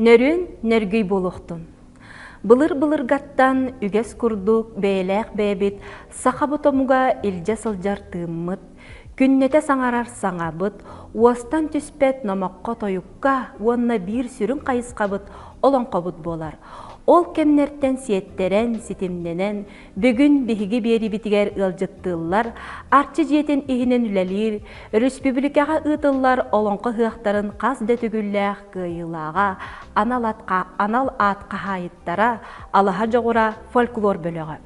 Нөрүн нөргүй болуқтын. Былыр-былыргаттан үгэс курдук бэйлээх бэбит саха ботомуга илдьэ сылдьар тыыммыт Күннэтэ саҥарар саҥабыт, уостан түспэт номоххо-тойукка уонна биир сүрүн хайысхабыт олоҥхобут буолар. Ол кэмнэртэн сиэттэрэн, ситимнэнэн, бүгүн биһиги биэриибитигэр ыалдьыттыыллар Арчы дьиэтин иһинэн үлэлиир, өрөспүүбүлүкэҕэ ыытыллар олоҥхо ыһыахтарын хас да төгүллээх кыайыылааҕа анал аат хаһаайыттара, Алаһа дьоҕура фольклор бөлөҕө,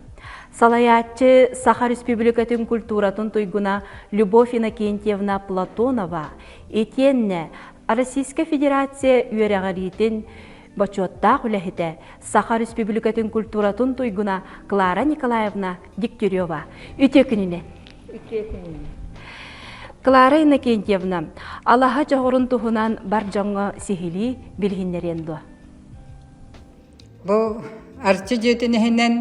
Салайааччы Саха Республикатын культуратын туйгуна Любовь Иннокентьевна Платонова итиэннэ Российскай Федерация үөрэҕириитин бочуоттаах үлэһитэ, Саха Республикатын культуратын туйгуна Клара Николаевна Дегтярева үтүө күнүнэн. Үтүө күнүнэн. Клара Иннокентьевна, алаһа дьоҕурун туһунан бар дьоҥҥо сиһилии билиһиннэриэн дуо? Бу Арчы дьиэтин иһинэн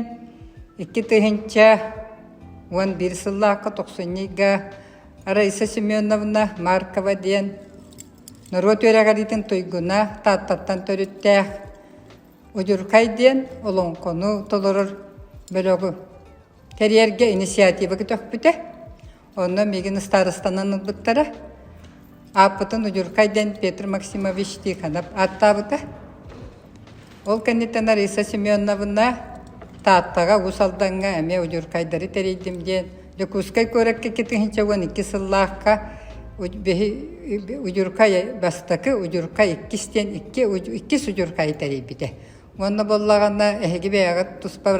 икки тыһыынча уон биир сыллаахха тохсунньуйга Раиса Семеновна Маркова диэн норуот үөрэҕириитин туйгуна Тааттаттан төрүттээх Удьурхай диэн олоҥхону толорор бөлөҕү кэриэргэ инициатива көтөхпүтэ. Онно мигин ыстаарыстанан ылбыттара. Ааппытын Удюркай дэн Петр Максимович Тихонов ааттаабыта. Ол кэнниттэн Ариса Семеновна Тааттаҕа Уус Алдаҥҥа эмиэ удюркайдары тэрийдим диэн Дьокуускай куоракка китиһинчэ уон икки сыллаахха удюркай бастакы удюркай иккис диэн иккис удюркайы тэрийбитэ. Уонна буоллаҕына эһиги бэйэҕит туспа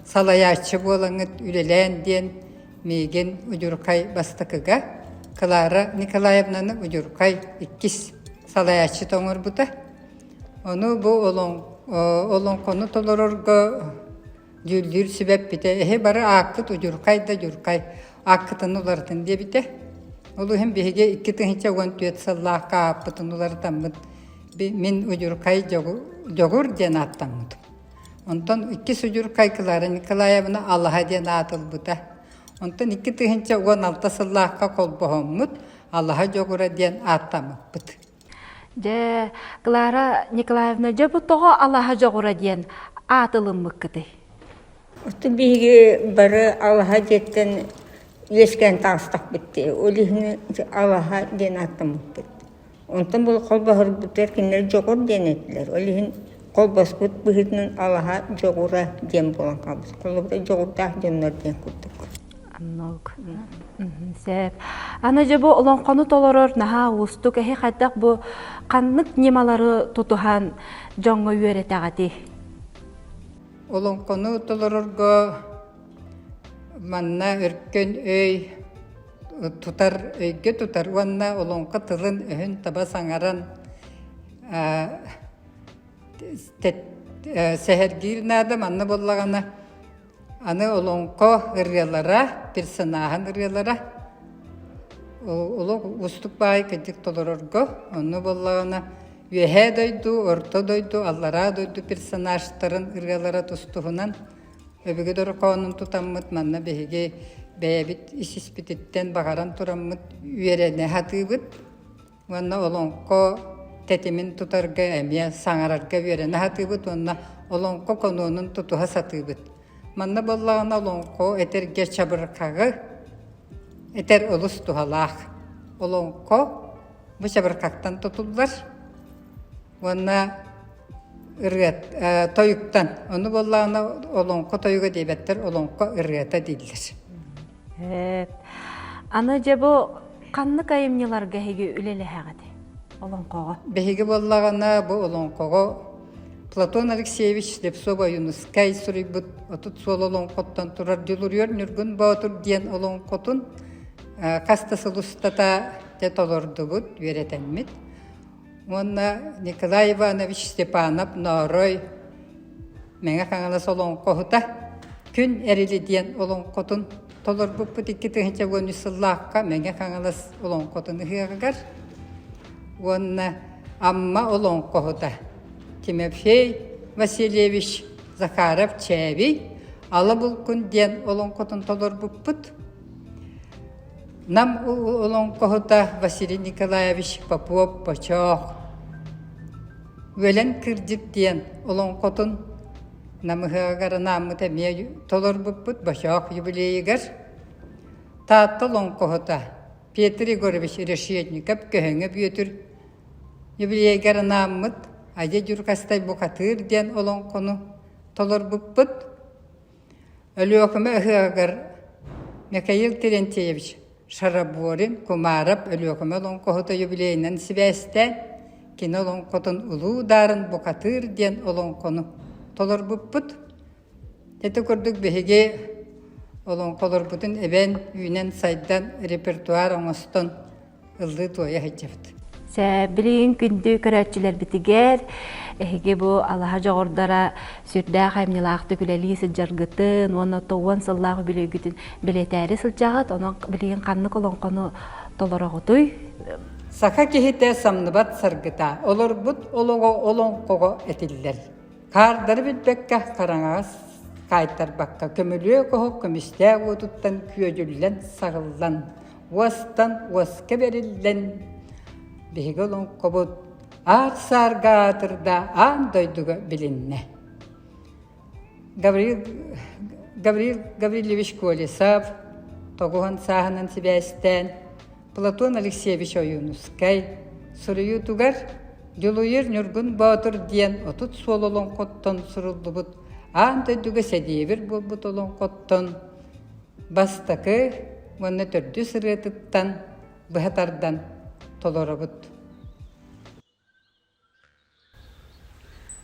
салайааччы буолаҥыт үлэлээн диэн Миигин удьурхай бастакыга Клара Николаевнаны удьурхай иккис салайааччыт оҥорбута. Ону бу олоҥхону толорорго дьүүллүүр сүбэппитэ эһи бары ааккыт удьурхай да удьурхай ааккытын уларытын диэбитэ. Ол иһин биһиги икки тыһыынча уон түөрт сыллаахха ааппытын уларытаммыт мин удьурхай дьоҕур диэн ааттаммытым. Онтон икки судьур Кайкылаара Николаевна алаһа диэн аатылбыта. Онтон икки тыһыынча уон алта сыллаахха холбоһоммут Алаһа Дьогура диэн ааттаммыппыт. Дьэ, Клара Николаевна, дьэ бу тоҕо Алаһа Дьоҕура диэн аатылыммыккытый? Оттон биһиги бары Алаһа диэттэн үөскээн таҕыстахпыт. Ол иһин Алаһа диэн ааттаммыппыт. Онтон бу холбоһорбутугар кинилэр дьоҕур диэн этилэр. Ол иһин холбоспут быһыытынан алаһа дьоҕура диэн буолан хаалбыт. Холобура дьоҕурдаах дьоннор диэн курдук. Сээп. Аны дьэ бу олоҥхону толорор наһаа уустук эһи хайдах бу ханнык ньымалары тутуһан дьоҥҥо үөрэтэҕитий? Олоҥхону толорорго манна өркөн өй, тутар, өйгө тутар уонна олоҥхо тылын-өһүн таба саҥаран сэһэргиир наада манна буоллаҕына аны олоҥхо ырыалара, персонааһын ырыалара олох уустук баай кэнчик толорорго онну буоллаҕына Үөһээ дойду, Орто дойду, Аллараа дойду персонажтарын ырыалара тустуһунан Өбүгэ дорҕоонун тутаммыт манна биһиги бэйэбит ис-испититтэн баҕаран тураммыт үөрэнэ сатыыбыт уонна олоҥхо тэтимин тутарга эмиэ саҥарарга үөрэнэ сатыыбыт уонна олоҥхо конуонун тутуһа сатыыбыт. Манна буоллаҕына олоҥхо этэргэ чабырҕаҕы этэр олус туһалаах. Олоҥхо бу чабырҕаттан тутуллар уонна ырыат тойуктан ону буоллаҕына олоҥхо тойуга диэбэттэр олоҥхо ырыата дииллэр аны дьэ бу ханнык айымньыларга эһиги үлэлэһэҕит олоҥхоҕо биһиги буоллаҕына бу олоҥхоҕо платон алексеевич слепцова юнускай суруйбут отут суол олоҥхоттон турар дьулуруйар ньургун боотур диэн олоҥхотун хас да сыл устата толордубут үөрэтэммит уонна Николай Иванович Степанов Ноорой Мэҥэ Хаҥалас олоҥхоһута Күн Эрили диэн олоҥхотун толорбуппут икки тыһыынча уон үс сыллаахха Мэҥэ Хаҥалас олоҥхотун ыһыаҕыгар уонна Амма олоҥхоһута Тимофей Васильевич Захаров-Чээбий Ала Булкун диэн олоҥхотун толорбуппут Нам олоҥхоһута Василий Николаевич Попов Почоох Үөлэн кырдьык диэн олоҥхотун намыһаҕар анааммыт эмиэ толорбуппут Бочоох юбилейыгар Таатта олоҥхоһута Петр Егорович Решетников Көһөҥө Бүөтүр юбилейыгар анааммыт Адье Дьурҕастай Бухатыыр диэн олоҥхону толорбуппут Өлүөхүмэ ыһыаҕыгар Микаил Терентьевич Шараборин Кумаров Өлүөхүмэ олоҥхоһута юбилейынан сибээстээн кини олоҥхотун улуу ударын букатыыр диэн олоҥхону толорбуппут. Ити курдук биһиги олоҥхолорбутун эбэн, үүнэн-сайдан, репертуар оҥостон ыллыы туойа сылдьабыт. Сээбилин күндү көрөөччүлэрбитигэр эһиги бу алаһа дьоҕурдара сүрдээх айымньылаахтык үлэлии сылдьаргытын уонна тоҕуон сыллаах үбүлүөйгүтүн бэлиэтээри сылдьаҕыт. Онон билигин ханнык олоҥхону толороҕутуй? Саха киһитэ самныбат саргыта, олорбут олоҕо олоҥхоҕо этиллэр. Хаардары билбэккэ хараҥаҕас хаайтарбакка көмүлүө көһө көмүстээх уотуттан күөдьүллэн саҕыллан уостан уоска бэриллэн, биһиги олоҥхобут аах саарга аатырда аан дойдуга билиннэ. Гаврил, Гаврил Гаврильевич Колесов тоҕуһан сааһынан сибээстээн Платон Алексеевич Ойуунускай суруйуутугар Дьулуйар Ньургун Боотур диэн отут суол олоҥхоттон суруллубут аан дойдуга сэдиэбир буолбут олоҥхоттон бастакы уонна төрдүс ырыатыттан быһа тардан толоробут.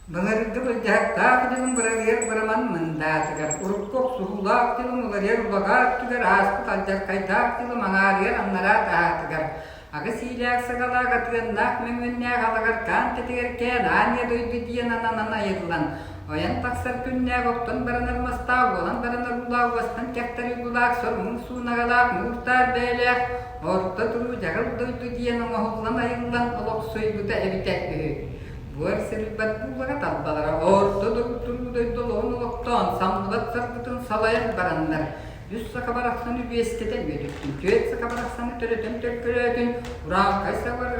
Былыргы былдьаһыктаах дьылын быралыйар быраман мындаатыгар, урукку охсуһуулаах дьылын уларыйар улаҕаа өттүгэр ааспыт алдьархайдаах дьылы маҥаарыйар аннараа таһаатыгар, Аҕыс иилээх саҕалаах Атыаннаах Мөҥүөннээх алаҕар хаан тэтигэр Кээн аанньа дойду диэн ананан айыллан, ойон тахсар күннээх оттон баран армастаах буолан баран оргулаах уостан кэхтэр уйгулаах сор муҥ суунаҕалаах муур-таар бэйэлээх орто туруу дьаҕыл дойду диэн оҥоһуллан айыллан олохсуйбута эбитэ үһү. Буор сырыйбат бууллара талбалара орто туруу дойду олоҕун олохтоон самлыбат сарбытын салайан бараннар Үс саха барахсан үбүөстэтэ үөтүттүн түөрт саха барахсаны төрөтөн төлкөлөөтүн, ураалкай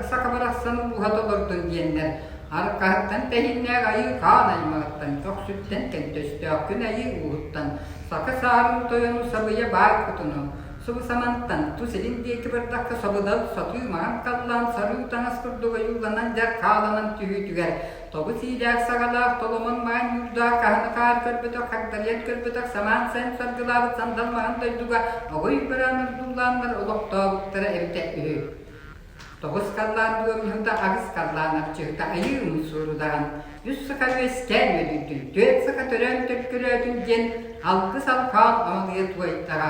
саха барахсаны бууһа толордун диэннэр, аркаһыттан тэһиннээх айыы хаан аймаҕыттан, көхсүттэн көнтөстөөх күн айыы ууһуттан, саха саарын тойону сабыйа баай кутуну, субу самантан ту силин диэки бардахха сабыдал сатыы маҥан таллаан сарыы таҥас курдук ойууланан дьар хааланан түһүүтүгэр тобу сиилээх саҕалаах толомон маан ньуурдаах хаһаны хаар көрбөтөх хагдарыйан көрбөтөх самаан саин саргылаабыт сандал маһын дойдуга огой быраан ордуулааннар олохтообуттара эбитэ үһү тоҕус халлаан дуомньуһута аҕыс халлаан арчыһыта айыымын суурудаҕын үс сыха үөскээн үөдүйдүн түөрт сыха төрөөн төлкөлөөтүн диэн алгыс алхаан омалыйа туойдаҕа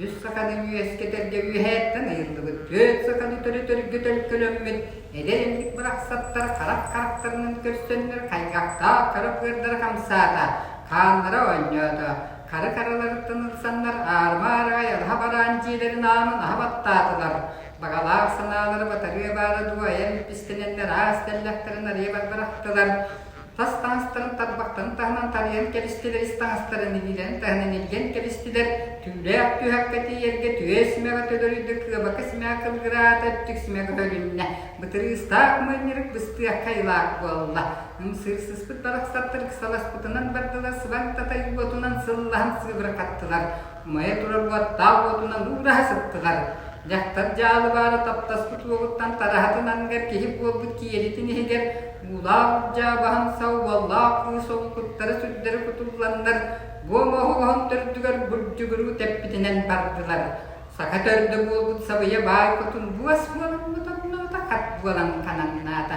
Үс саканы үөскэтэргэ үөһээттэн ыйыллыбыт түөрт саканы төлөтөргө төлкөлөммүт эдэр эмньик барахсаттар харах харахтарынан көрсөннөр хайгахтаах кара быардара хамсаата, хааннара оонньоото, хары хараларыттан ылсаннар аарыма-аарыгай аһа бараан дьиэлэрин аанын аһа баттаатылар. Баҕалаах санаалара батарыа баара дуу айан эппистэнэннэр аас тэллэхтэрин арыйа барбарахтылар. Тас таҥастарын тарбахтарын таһынан тарыйан кэбистилэр ис таҥастарын иһилэн таһынан илгэн кэбистилэр, түүлээх түһэххэ тиийэргэ түөс симэҕэ төлөрүйдэ, кыабака симэҕэ кылгыраата, өттүк симэҕэ бөлүннэ. Бытырыыстаах моонньырык быстыахха айылаах буолла. Сыр сыспыт барахсаттар ыксаласпытынан бардылар, сыбан татай уотунан сыллаһан сыыбырахаттылар. умайа турар уоттаах уотунан уураһа сыттылар. Дьахтар дьаалы баара таптаспыт уолуттан тараһатын анныгар киһи буолбут киэлитин иһигэр уулаах урдьаа баһын сау уоллаах кыыс ол куттара сүрдэрэ кутулланнар бу оҥоһу оһон төрдүгэр бурдьугуруу тэппитинэн бардылар. Саха төрдө буолбут сабыйа баай хотун буос буоламмыта булата хат буолан хананнаата.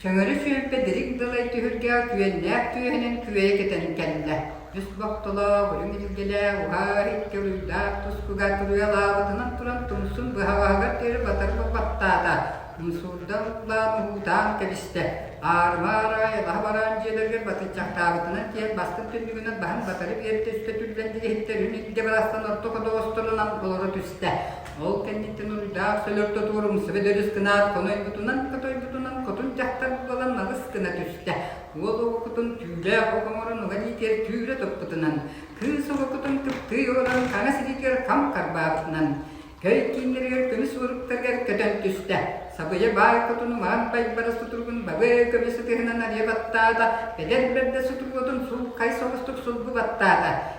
Чөҥөрү сүөлбэ дириҥ далай түһүлгэ күөннээх түөһүнэн күөйэ кэтэн кэллэ. Үс бохтолоох, үрүҥ илгэлээх, уһаар икки уруйдаах тускуга туруйалаабытынан туран тумсун быһаҕаһыгар диэри батар баттаата. Умсуурдан уулаан уһуутаан кэбистэ. Аарыма араай алаһа бараан дьиэлэригэр батыычахтаабытынан тиийэн бастыҥ түннүгүнэн баһан батары биэрдэ үскэ түллэн дириһиттэрин илдэ барахсан орто ходоҕосторунан олоро түстэ. Ол кэнниттэн уруйдаах сөлөртө туорумсубэ дөрүс гынаат хотойбутунан-хотойбутунан хотун дьахтар буолан малыс гына түстэ. Уол уокутун түүлээх ук оҥорон уга ниитигэр түүрэ туппутунан, кыыс уокутун кыптыы олорон хаҥас илиитигэр хам харбаабытынан, көй кииннэригэр көмүс уоруктарыгар көтөн түстэ. Сабыйа баай хотуну маҥан байбара сутуругун бабы көмүс ытыһынан арыйа баттаата, бэдэр бэрдэ сутуруотун суулкай соҕустук сулгу баттаата.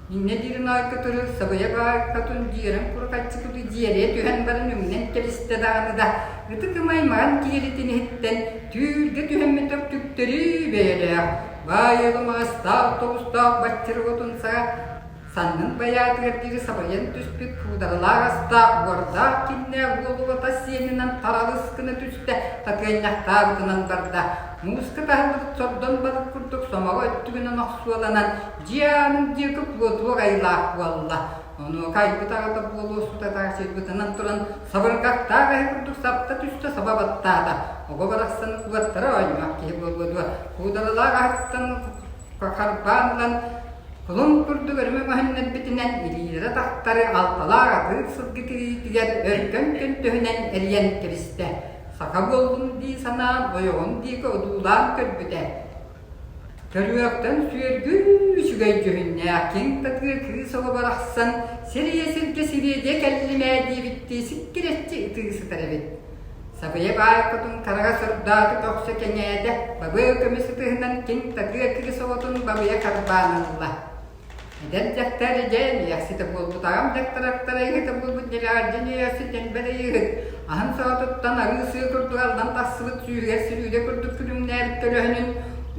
Инньэ диирин аай кытары сабыйа баайкатын дьиэрэн курҕаччыкыты дьиэрийэ түһэн баран үҥнэн кэбистэ даҕаны да ытык ым аймаҕын киэлитин иһиттэн түүргэ түһэммэтэх түктэри бэйэлээх баайыалым аастаах тоҕустаах баччырҕотун саҕа саннын байаатыгар диэри сабайан түспүт куудаҕалаах астаах уордаах кимнээх уолулата сиэнинэн тараҕыс гына түстэ татыанньахтаабытынан барда мууска таһыллыбыт сордон балык курдук сомоҕо өттүгүнэн охсуоланан Дьиаанын диэки плотук айылаах буолла. Онуоха айбыт аҕата буолуо сутатаах сирбытынан туран сабырҕаттаах эһэ курдук сапта түстэ саба баттаата. Оҕо барахсан уоттара оонньоох киһи буолуо дуо, куударалаах аһыттан харбаан ылан кулун курдук өрүмэ көһүннэрбитинэн илиилэрэ тахтары алталаах атыыр сылгы тириитигэр өркөн көнтөһүнэн эрийэн кэбистэ. Саха буоллум дии санаан ойоҕун диэки одуулаан көрбүтэ. Төрүөхтэн сүөргүн үчүгэй дьүһүннээх киҥ-татыы кыыс оло барахсан сириэ-сиргэ сибиэдиэ кэллим ээ диэбиттии сиккирэччи ытыы сытар эбит. Сабыйа баайкотун хараҕа сордооту көхсө кэҥээтэ, бабыа көмүс ытыһынан киҥ-татыы кыыс оҕотун бабыйа харбаан ылла Эдэр дьахтар дьэн иэхситэ буолбут аҕам дьахтараттара ыһытын булбут нэлэҕэрдьи ньыйарсытэн бэрийиһыт аһын соотуттан арыы сыы курдук аллан тахсыбыт сүүһүгэр силүүдэ курдук күлүмнээбит көлөһүнүн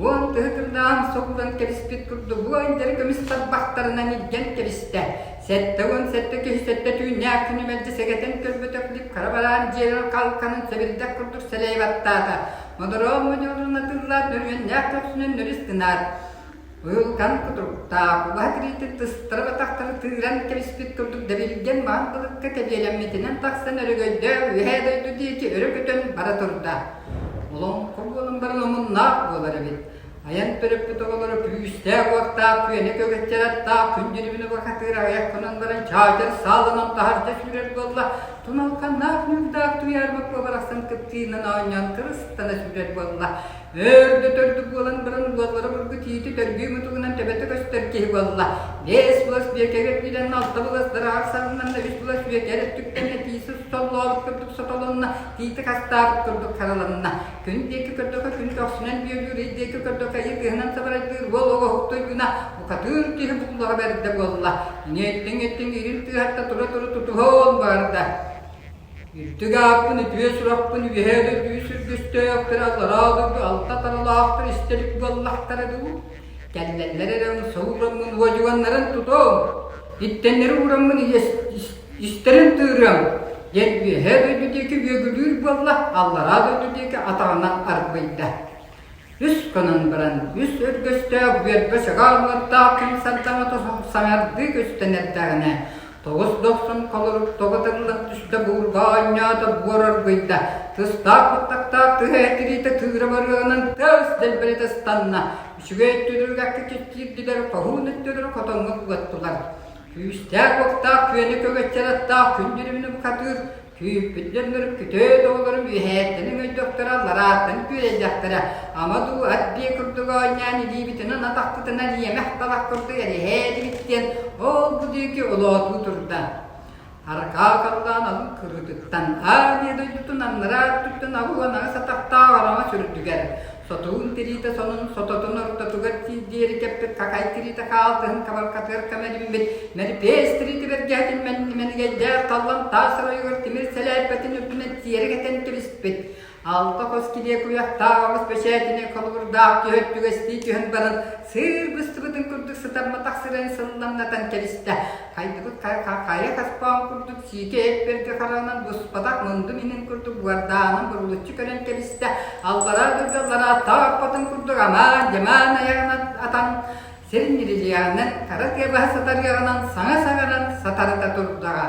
уон тыһытыннаан соһуллан кэбиспит курдук бу эндери көмүс тарбахтарынан илдьэн кэбистэ сэттэ уон сэттэ киһи сэттэ түүннээх күнү мэлдьи сэгэтэн көрбөтөх дип хара бараан дьиэлэр халканын сэбирдэх курдук сэлэйи баттаата модороон модьорун атыыллаат нөрүөннээх көхсүнэн нөрүс гынаат Ыылган кутуруктаах, улаһа тириитин тыстарыбатахтары тыыран кэбиспит курдук дэбилгэн маан былыкка тэбиэлэммитинэн тахсан өрөгөйдөөх үөһээ дойду диэки өрө көтөн бара турда. Олоҥхо буолан баран омуннаах буолар эбит. Айан төрөппүт оҕолоро күүстээх-уоттаах күөнэ көгөччөрөртөөх күн дьирибинэ бакатыыр аҕыйах гынан баран чаачар сааланан таһырдьа сүүрэр буолла, туналканнаах ньуурдаах туйаарбыт уобарахсан кыптыынан оонньоон кырыстана сүүрэр буолла. Өрдөтөрдүк буолан баран уолларым ыргы тиити дөргүү мутугунан төбөтө көстөр киһи буолла. Биэс буос бүөкэгэ өттүнэн алта булас дараах сарыннанна үс булас бүөкэр өттүктэнэ тиисэ соллообут курдук сотолонна, тиити хастаабыт курдук хараланна. Күн диэки көрдөхө күн көхсүнэн бүөлүүр, ый диэки көрдөхө ый кыһынан сабарайдыыр уол оҕоһуктуйгуна укатыыр киһи буллаҕа бэрдэ буолла. Иҥэттиҥ-эттиҥ ирин тыаһатта тура-тура тутуһуон баарда. Үрдүк ааппын үтүө сурахпын үөһэ дөтүү сүргүстээх кыра зараа дургу алта таралаахтар истэбит буоллахтара дуу? Кэллэллэр эрэн соураммын уодьуганнарын тутуоҥ, иттэннэри уураммын истэрин тыырыам, диэн үөһэ дойду диэки үөгүлүүр буолла, аллараа дойду диэки атаҕынан арбыйда. Үс кунан баран, үс өргөстөөх бүөрбэ сөҕө уҥуохтаах ким сардаҥата саҥардыы көстөнөрдөҕүнэ, тоҕус дохсун холорук тоҕоталлах түстэ буурга оонньоото буор оргуйда, тыстаах баттахтаах тыһа этириитэ тыыра барыаҕынан тыас дэлбэлитэ ыстанна, үчүгэй өттүлэргэхтик чиччиирдилэр, хоһуун өттүлэр хотоҥҥо куоттулар. Күүстээх-уоктаах күөнү көгэччэр аттаах күн дьүрүмүнү бухатыыр Күүппүттэр мөрүккүтөө тоҕолорум үөһээттэнин өйдөхтөрө, лараартан күөдэйдэхтэрэ, ама дуу ат биэ курдук оонньоон илиибитинэн атахпытынан иэмэх талах курдук эрэһээтибит диэн ол-бу диэки олоотуу турда. Аркаа халлаан алын кырыытыттан, аа дии дойдутун аннараа өттүттэн абыланаҕас атахтаах араҥа сүрдүгэр, Сотугун тириитэ сонун сототун ортотугар тиит диэри кэппит какай тириитэ хаалтыһын кабаркатыгар кэм эриммит мэрипээс тириитэ бэргээтин мэнигэйдээх таллан таас оройугар тимир сэлээрпэтин үрдүнэн тиэрэ кэтэн кэбиспит алта хос килиэ куйахтаах оҕус бэчээтинэ холобурдаах түһэр түгэстии түһэн баран сыыр быстыбытын курдук сытамматах сирин сылынамнатан кэбистэ Хайдыбыт хайа хоспоон курдук сиикэ эппэргэ хараҕынан быспатах мындым иһин курдук буордаанын бурулуччу көрөн кэбистэ, аллараа дурдаллара тооппотун курдук амаан-дьамаан айаҕынан атан, сир ньирилиэҕинэн, хара тыа баһа сатарыаҕынан саҥа саҥаран сатарыта турдаҕа.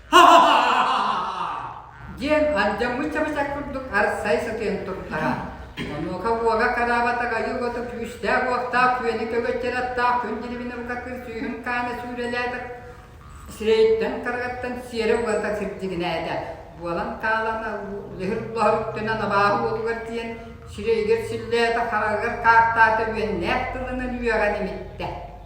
диэн алдьаммыт чабычах курдук арсай сытыйан турдара. Онуока уога караабатах айыы боту күүстээх-уохтаах күөнү көгөттөр аттаах күн дирибинэ букаккыр сүүһүн хаана сүүрэлээтик сирэйиттэн каргаттан сиэрэ угата сирдигинээтэ. Буолан таалан лыһыр-лоһор үттэнэн абааһы уотугар тиийэн сирэйигэр силлээтэ хараҕыгар хаахтаата үөннээх тылынан үөҕэн имиттэ.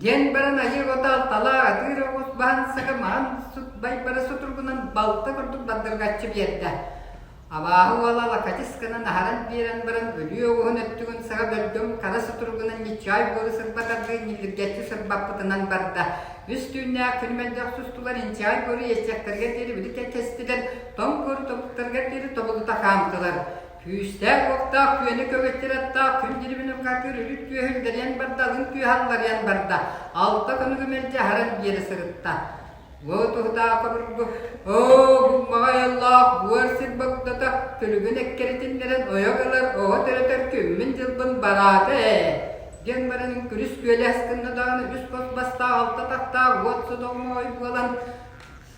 диэн баран адьыр отаал талаа атыыр оҕус баансака маан сутбай бара сутургунан балта курдук бардыргаччы биэрдэ абааһы уола лакачысканан аһаран биэрэн баран өлүө оҕуһун өттүгүн саҕа бөлгөм хара сутургунан ньиччаай буору сырбатардыы ньиллиргэччи сырбаппытынан барда үс түүннээх күн мөлдөх сустулар инчаай буору иэччэктэргэ диэри били кэккэстилэр тоҥ курдуктарга диэри тобулута хаамтылар. Күүстээх-уохтаах күөнү көгэттир аттаах күн дирибин ымҕакыыр үрүт түөһүн дэрийэн барда, алын түөһэ алларыйан барда, алта көнүгү мэлдьи аһаран биэрэ сырытта. Уо туһутаах обургу, оо, булмаҕай айыллаах буор сир богдото, күлүгүн эккэритиннэрэн ойох ылар оҕо төрөтөр күммүн-дьылбын бараата ээ, диэн баран күнүс күөлэс гынна даҕаны үс хос бастаах алта тахтаах уот содоҕомоҕой буолан,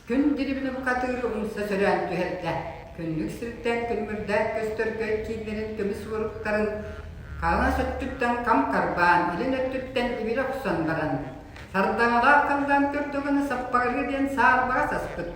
Күн дириҥин хатыыры умса сөрөөн түһэрдэ. Күннүк сирдээх күлмүрдээх көстөргө кииннэрин көмүс уоруктарын хаҥас өттүттэн хам харбаан, илин өттүттэн ибирэ охсон баран, сардаҥалаах халлаан көрдөҕүнэ саппаҕырыы диэн саарбаҕа саспыт,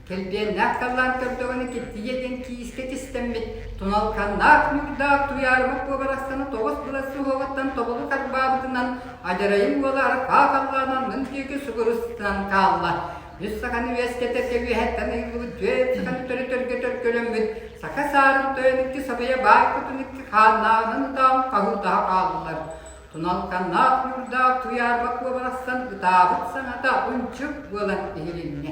кэлбиэннээх халлаан көрдөҕүнэ киттийэ диэн киискэ тистэммит туналханнаах ньуурдаах туйаарыма куобарастаны тоҕус былас суһуоҕуттан тобулу харбаабытынан адьарайын уола арҕаа халлаанан мын диэки сугурустан хаалла. Үс саханы үөскэтэргэ үөһэттэн ыйыллыбыт түөрт саханы төрөтөргө төлкөлөммүт саха саарын тойон икки сабыйа баар кутун икки хааннааҕынан ытаан хаһыытаһа хааллылар. Туналканнаах нуурдаах куйаарба куо барахсан ытаабыт саҥата унчук буолан иһилиннэ.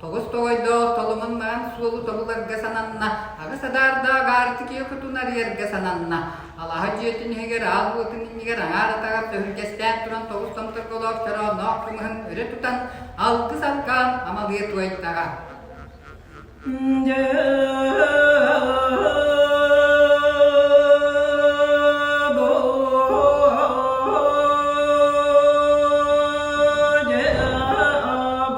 Тоҕус тоҕойдоох толомун маан суолу тобуларга сананна, аҕыс адаардаах аартикия кутун арыйарга сананна. Алаһа дьиэтин иһигэр аал уотун иннигэр аҥаар атаҕар төхүргэстээн туран тоҕус томторголоох чороонноох кымыһын өрө тутан, алгыс алгаан амалыйа туойдаҕа.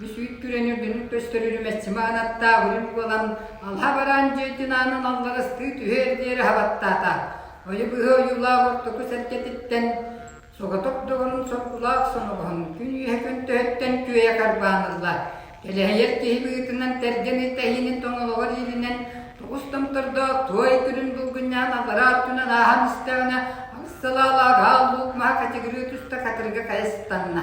Бүсүүт күрэн үргэнник көстөр үрүмэччи маанаттаах үрүҥ буолан, алаһа бараан дьиэтин аанын алларастыы түһэр диэри хабаттаата. Ойу быһа ойуулаах ортоку сэргэтиттэн, соҕотох доҕорун соргулаах соноҕоһун күн үөһэ көнтөһүттэн күөйэ харбаан ылла. Кэлэһийэр киһи быытынан тэргэн итэһиинин тоҥолоҕор иилинэн тоҕус томтордоох туой күлүн булгунньаһан аллараа өттүнэн ааһан истэҕинэ, алыс салаалаах аал луук маһа качыгырыы туста катырыга хайа сытанна.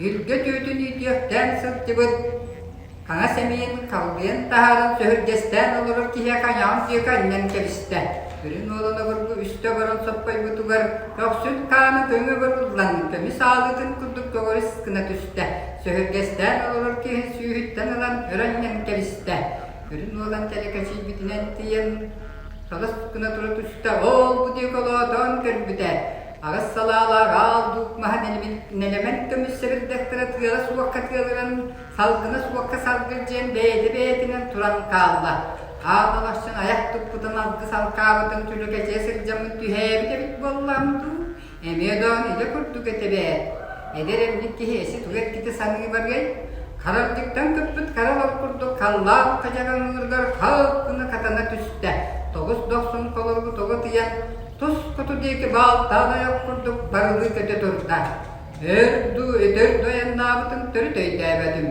Илгэ түүтүн иитиэхтээн сылдьыбыт, хаҥас эмиийин халбыйан таһааран сөһүргэстээн олорор киһи хаñаҕын диэки анньан кэбистэ. Үрүҥ уолун обургу үстэ оборон соппойбутугар көхсүн хаана көҥө бырыллан, көмүс аалыытын курдук көҕүрүс гына түстэ. Сөһүргэстээн олорор киһи сүүһүттэн ылан өр анньан кэбистэ. Үрүҥ уолан тэлэкэчийбитинэн тиийэн, салыс гына тура түстэ, ол-бу диэки олоотоон көрбүтэ. Аҕыс салаалаах аал дуук маһын нэлэмэн көмүс сэбирдэхтэрэ тыала суокка тыалыран, салгына суокка салгырдьыйан бэйэтэ-бэйэтинэн туран хаалла. Аан ылахсын айах туппутун алгыс алкаабытын түлүкэчийэ сылдьаммын түһээбит эбит буоллаам дуу, эмиэ даҕаны илэ курдук этэ эбээт. Эдэр эмньик киһи эси тугу эргитэ саныы барыай? Харалдьыктан кыппыт хара олор курдук халлаах хадьаҕаҥныырыгар халк гына хатана түстэ. Тоҕус дохсун холоргу тоҕо тыйан, Тус хоту диэки баалтаан ойох курдук барылыы көтө турда, өр дуу, өтөр да ойаннаабытын төрүт өйдөөбөтүм.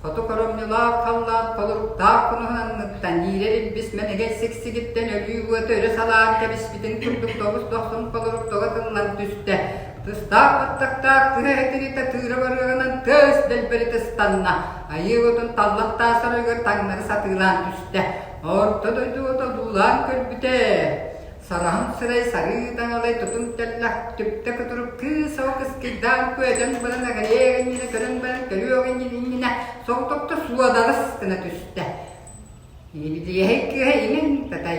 Хоту хоромньулаах халлаан холуктаах кунаһын анныттан иирэр илбис мэнэгэй сиксигиттэн өлүү уота өрө салаан кэбиспитин курдук тоҕус-тохсон холурук тоҕо тыллан түстэ. Тыстаах баттахтаах тыһа этирита тыыра барыаҕынан тыас дэлбэрита ыстанна, айыы отун таллахтаах сарыыгар таҥнары сатыылаан түстэ. Орто дойду отодуулаан көрбүтэ, сараһын сырай сарыы таҥалай тутун тэллэх түптэ кутурук кыыс ол кыскыйдаан күөдьэн баран эҕэйэ эҕинньине көрөн баран көрүө эҕинньин иннинэ соҕотохто суодарыс гына түстэ. Ибилиэһэй кыыһа иҥин татай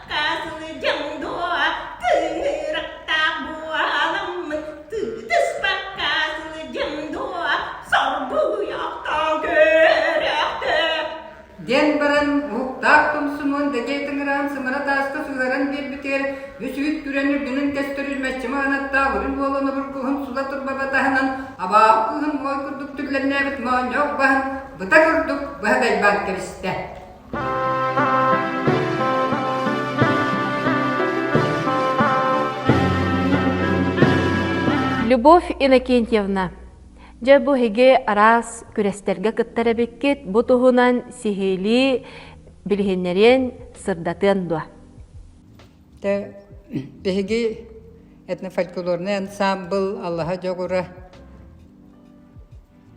Хатаатылы дьоҥдоох тыынырыктаах буоламмыт тыытыспакка сылы дьоҥдоох соргуйуохтаан көрүөхтэр диэн баран уһуктаах Тумсунуон дэтиэ тыҥыраан сымара тааска сыһаран биэрбитигэр бүс-үүт күрэн үрдүнэн көстөрү мэччи маанаттаах үрүн буолан обургуһун сула турбаба таһынан абааһы кыыһын моой курдук түрлэннээбит моонньох баһын быта курдук быһа дайбаан кэбистэ Любовь Иннокентьевна, дьэ бу эһиги араас күрэстэргэ кыттар эбиккит, бу туһунан сиһилии билиһиннэриэн, сырдатыан дуо? Тэ биһиги этнофольклорный ансамбл Аллаһа дьоҕура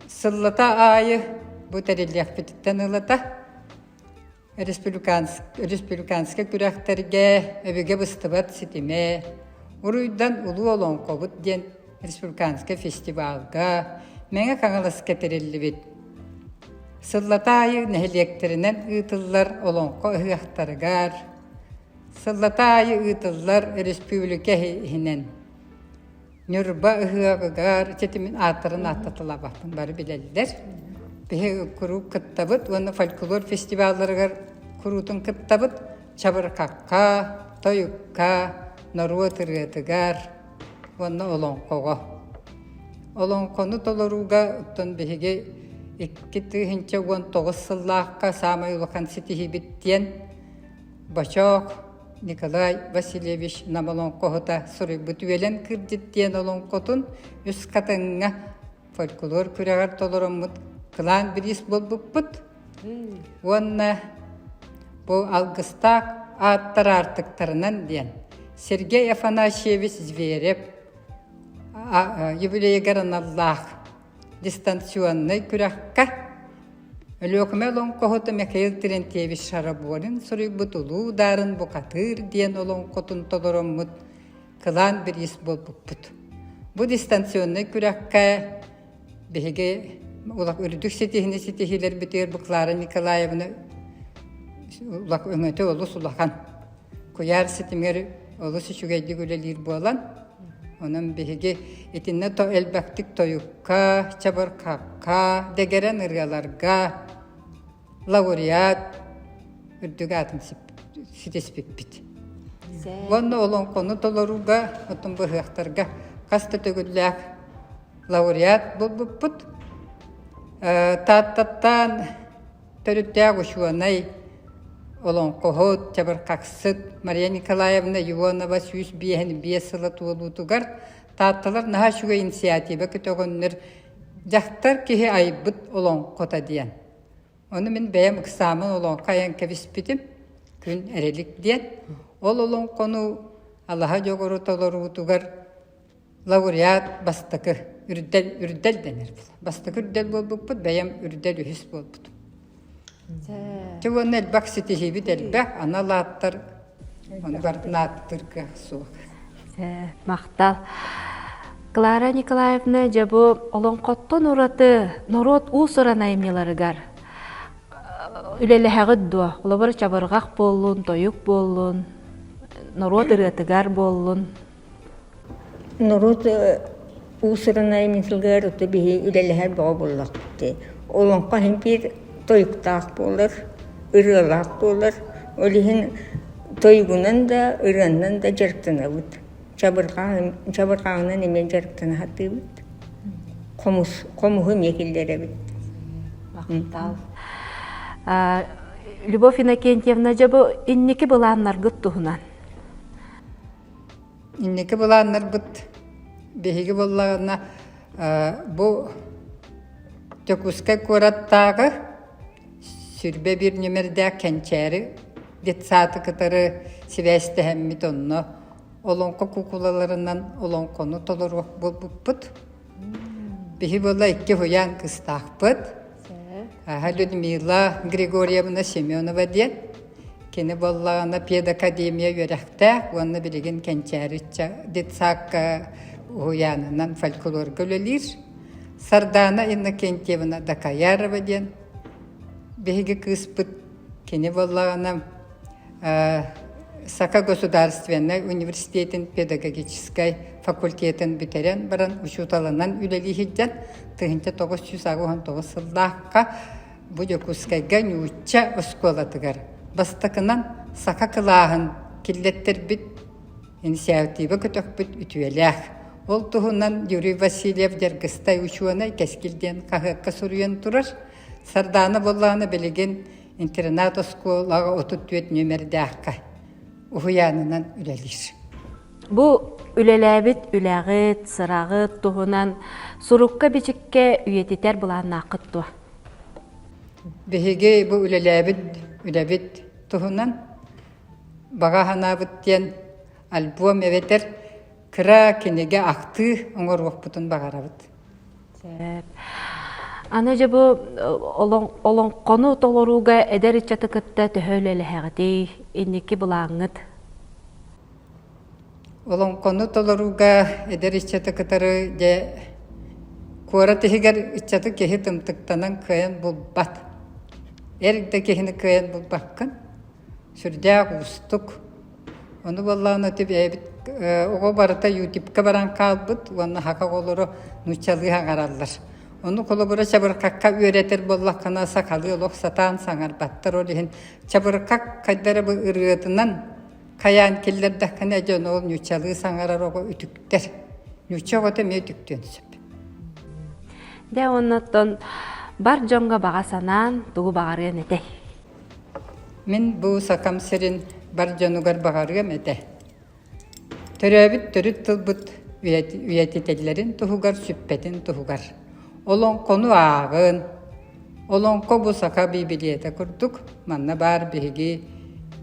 Сыллата аайы бу тэриллиэхпититтэн ылата республиканскай күрэхтэргэ өбүгэ быстыбат ситимэ уруйдан Улуу Олоҥхобут диэн республиканскай фестивалга Мэҥэ Хаҥаласка тэриллибит. Сыллата аайы нэһилиэктэринэн ыытыллар Олоҥхо ыһыахтарыгар, сыллата аайы ыытыллар республика иһинэн Ньурба ыһыаҕыгар ситимин ааттарын ааттатылабатын бары билэллэр. Биһи куруук кыттабыт уонна фольклор фестивалларыгар куруутун кыттабыт. Чабырҕакка, тойукка, норуот ырыатыгар уонна олоҥхоҕо. Олоҥхону толорууга оттон биһиги икки тыһыынча уон тоҕус сыллаахха саамай улахан ситиһиибит диэн Бочоок Николай Васильевич Нам олоҥхоһута суруйбут Үөлэн Кырдьык диэн олоҥхотун үс хатыҥҥа фольклор күрэҕэр толороммут кылаан бириис буолбуппут уонна бу алгыстаах ааттар аартыктарынан диэн Сергей Афанасьевич Зверев Ювелей Гороналлаах дистанционнай күрэххэ Өлүөкүмэ олоҥхоһута Михаил Терентьевич Шарабонин суруйбут Улуу Даарын букатыыр диэн олоҥхотун толороммут кылаан бириис буолбуппут. Бу дистанционнай күрэххэ биһиги улах үрдүк ситиһини ситиһиилэрбитигэр Буклара Николаевна улах өҥөтө олус улахан. куйаар ситимигэр олус үчүгэйдик үлэлиир буолан, онон биһиги итиннэ то элбэхтик тойукка, чабырхакка, дэгэрэн ырыаларга, лауреат үрдүк аатын ситиспиппит. Уонна олоҥхону толорууга, отун быһыахтарга хас да төгүллээх лауреат булбуппут. Тааттаттан Төрүттээх учуонай, олоҥхоһут, чабырҕахсыт Мария Николаевна Ионова сүүс биэһин биэс сыла туолуутугар Таатталар наһаа үчүгэй инициатива көтөҕөннөр «Дьахтар киһи айбыт олоҥхото» диэн. Ону мин бэйэм ыксаамын олоҥхо айан кэбиспитим, күн эрэлик диэн. Ол олоҥхону алаһа дьоҕуру толоруутугар Лауреат бастакы үрдэл үрдэл дэнэр бастакы үрдэл буолбуппут бэйэм үрдэл үһүс буолбутум. Дьэ уонна элбэх ситиһиибит элбэх анал ааттар ону барын ааттыыр кыах суох. Махтал. Клара Николаевна дьабу олоҥхоттон ураты норуот уусуран айымньыларыгар үлэлэһэҕит дуо? Олобор чабырҕах буоллун, тойук буоллун, норуот ырыатыгар буоллун. Норуот уусурунай миссиятыгар биһи үлэлэһэр бөҕө буоллахпыт. Олоҥхо иһин биир тойуктаах буолар, ырыалаах буолар. Ол иһин тойугунан да, ырыанан да дьарыктанабыт. Чабырҕаҕын чабырҕаҕынан эмиэ дьарыктана сатыыбыт. Хомус хомуһу эмиэ киллэрэбит. Махтал. Любовь Иннокентьевна, дьэ бу инники былааннаргыт туһунан. Инники былааннарбыт биһиги буоллаҕына бу Дьокуускай куораттааҕы сүрбэ биир нүмердээх кэнчээри детсааты кытары сибээстэһэммит онно олоҥхо куукулаларынан олоҥхону толору буолбуппут Биһи була икки уян кыстаахпыт. Аха Людмила Григорьевна Семенова диэн. Кини боллаана педакадемия үөрэхтээх уонна билигин кэнчээриччэ детсакка уһуйаанынан фольклорга үлэлиир. Сардаана Иннокентьевна Дакаярова диэн биһиги кыыспыт кини боллаана Саха государственнай университетин педагогическай факультетын бүтэрэн баран учууталынан үлэлиһирдьэн тыһыынча тоҕус сүүс аҕыс уон тоҕус сыллаахха бу Дьокуускайга нуучча оскуолатыгар бастакынан саха кылааһын киллэттэрбит инициатива көтөхпүт үтүөлээх. Ол туһунан Юрий Васильев Дьаргыстай учуонай кэскил диэн хаһыакка суруйан турар. Сардаана Боллаана билигин интернат-оскуолаҕа отут түөрт нүөмэрдээххэ уһуйаанынан үлэлиир. Бу үлэлээбит үлэҕит, сыраҕыт туһунан сурукка-бичиккэ үйэтитэр былааннааххыт дуо? Биһиги бу үлэлээбит үлэбит туһунан баҕа санаабыт диэн альбом эбэтэр кыра кинигэ актыы оҥоруохпутун баҕарабыт. Аны дьэ бу олоҥхону толорууга эдэр ыччаты кытта төһө үлэлэһэҕитий? Инники былааҥҥыт? Олоҥхону толорууга эдэр ыччаты кытары дьэ куорат иһигэр ыччаты киһи тымтыктанан кыайан булбат. Эр да киһини кыайан булбаккын. Сүрдээх уустук. Ону буоллаҕына ити бэйэбит оҕо барыта Ютибка баран хаалбыт уонна хака оҕолору нууччалыы аҥараллар. Ону холобура чабырҕакка үөрэтэр буоллаххына сахалыы олох сатаан саҥарбаттар. Ол иһин чабырҕак хайдары бу ырыатынан хайаан киллэрдэххинэ дьону ол нууччалыы саҥарар оҕо үтүктэр. Нуучча оҕото эмиэ үтүктүөн сөп. Дэ оннуттан бар дьонго баҕа санаан тугу баҕарыан этэй? Мин бу Сакам сирин бар дьонугар баҕарыам этэ Төрөөбүт төрүт тылбыт үйэтитиллэрин туһугар сүппэтин туһугар олоҥхону ааҕын Олоҥхо бу саха биибилиэтэ курдук манна баар биһиги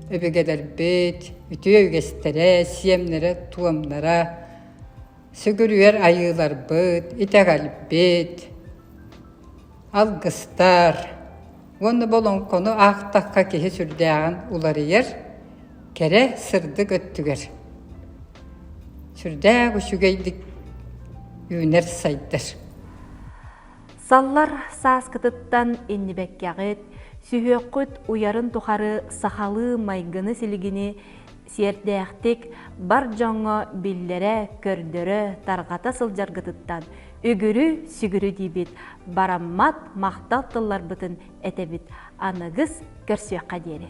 өбүгэлэрбит үтүө үгэстэрэ сиэмнэрэ туомнара сүгүрүйэр айыыларбыт итэҕэлбит алгыстар уонна бу олоҥхону аахтахха киһи сүрдээҕин уларыйар, кэрэ сырдык өттүгэр. Сүрдээх үчүгэйдик үүнэр-сайдар. Саллар сааскытыттан иннибэккэҕит, сүһүөххүт уйарын тухары сахалыы майгыны-силигини сиэрдээхтик бар дьоҥҥо биллэрэ-көрдөрө, тарҕата сылдьаргытыттан үгүрү-сүгүрү диибит, бараммат махтал тылларбытын этэбит, аныгыс көрсүөххэ диэри.